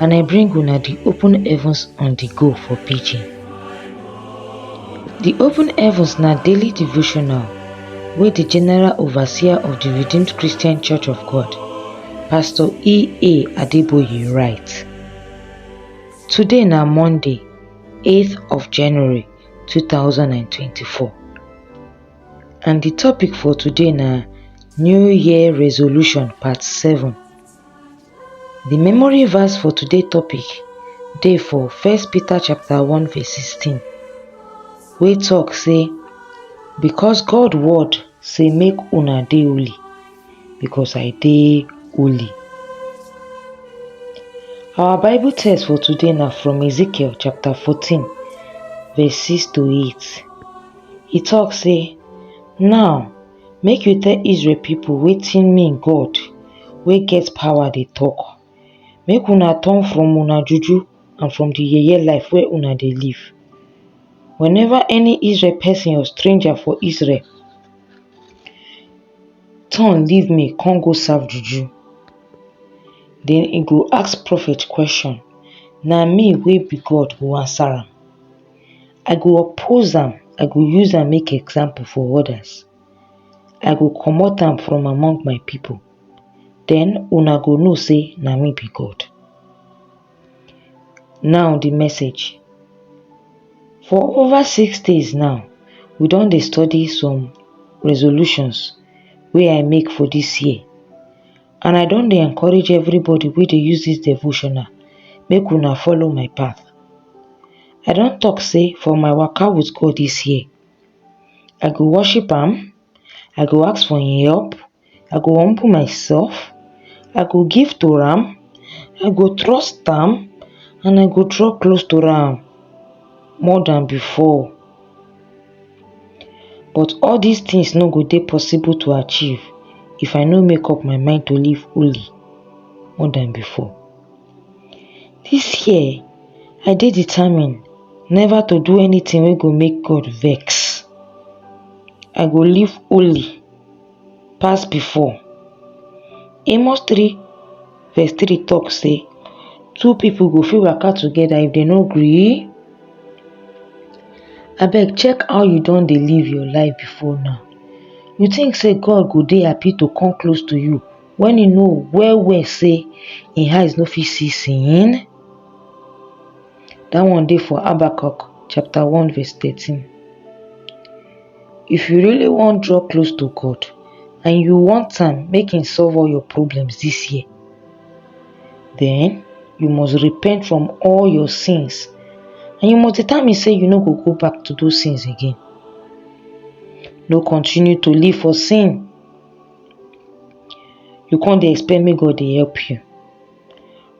and I bring una the open heavens on the go for pidgin. The open heavens na daily devotional wey the general overseer of the Redeemed Christian Church of God, Pastor E.A. Adeboye write. Today na Monday, 8th of January 2024 and the topic for today na New Year Resolution Part 7. Di memory verse for today topic dey for first Peter chapter one verse sixteen wey talk say because God word say make una dey holy because I dey holy. Our bible text for today na from Ezekiel chapter fourteen verse six to eight e talk say now Make you tell Israel people wetin me God wey get power dey talk. Make una turn from una juju and from the yeye life wey una dey live. Whenever any Israel person or stranger for Israel turn leave me come go serve juju, then e go ask prophet question, na me wey be God go answer am. I go oppose am, I go use am make example for others. I go comot am from among my people. Then una go know say na me be God. Now the message. For over six days now, we don dey study some resolutions wey I make for this year. and I don dey encourage everybody wey dey use this devotional make una follow my path. I don talk say for my waka with God this year, I go worship am, I go ask for im help, I go humble myself, I go give to am, I go trust am and I go draw close to am more than before. But all dis tins no go dey possible to achieve if I no make up my mind to live holy more than before. Dis year, I dey determined neva to do anytin wey go make God vex. I go live holy. pass before. Amos 3 verse 3 talk say two people go fit waka together if they no gree. Abeg check how you don dey live your life before now. You think say God go dey happy to come close to you when you know well well say im eyes no fit see sin? That one dey for Habakkuk chapter 1 verse 13. if you really wan draw close to God and you want am make him solve all your problems this year, then you must repent from all your sins and you must determine say you no go go back to those sins again. No continue to live for sin. You can't dey expect make God dey help you.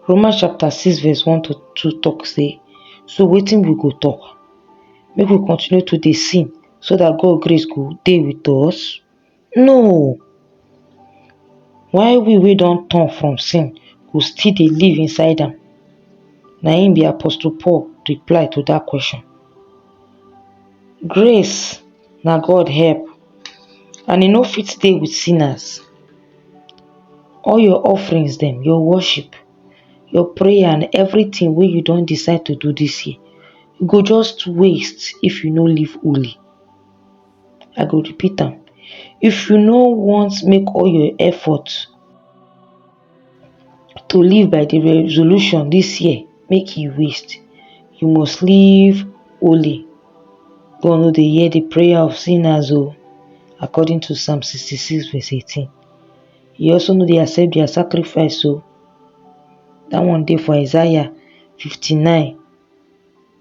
Romans chapter 6 verse 1 to 2 talk say, so wetin we go talk? make we continue to dey sin so that God grace go dey with us? No! Why we wey don turn from sin go still dey live inside am? Na im be Apostle Paul reply to that question. Grace na God help and e no fit stay with sinners. All your offerings dem, your worship, your prayer and everything wey you don decide to do this year e go just waste if you no live holy i go repeat am if you no want make all your effort to live by the resolution this year make e waste you must live holy God no dey hear the prayer of sinners o according to psalm 66 verse 18 He also no dey accept their sacrifice o. That one dey for Isaiah 59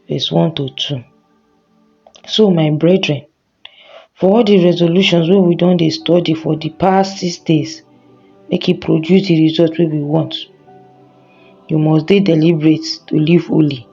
verse 1 to 2. So my brethren, for all the resolutions wey we don dey study for the past six days, make e produce the result wey we want. You must dey deliberate to live holy.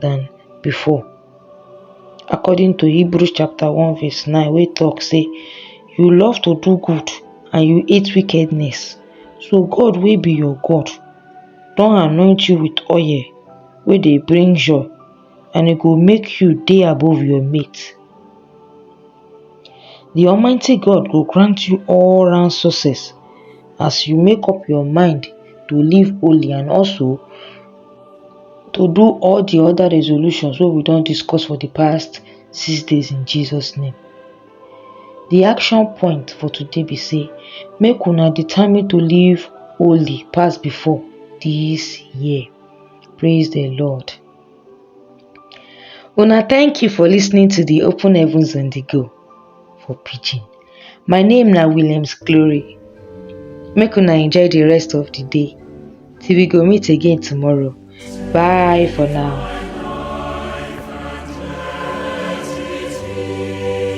than before. According to Hebrews chapter 1 verse 9 wey talk say you love to do good and you hate wickedness. So God wey be your God don anoint you with oil wey dey bring joy and e go make you dey above your mate. The Almighty God go grant you all round success as you make up your mind to live holy and also to do all the other resolutions wey we don discuss for the past six days in Jesus name. The action point for today be say make una determine to live holy pass before this year. Praise the Lord. Una thank you for listening to the Open Heavens and the Go. for pidgin. My name na Williams Glory. Make una enjoy the rest of the day. Till we go meet again tomorrow. Bye for now.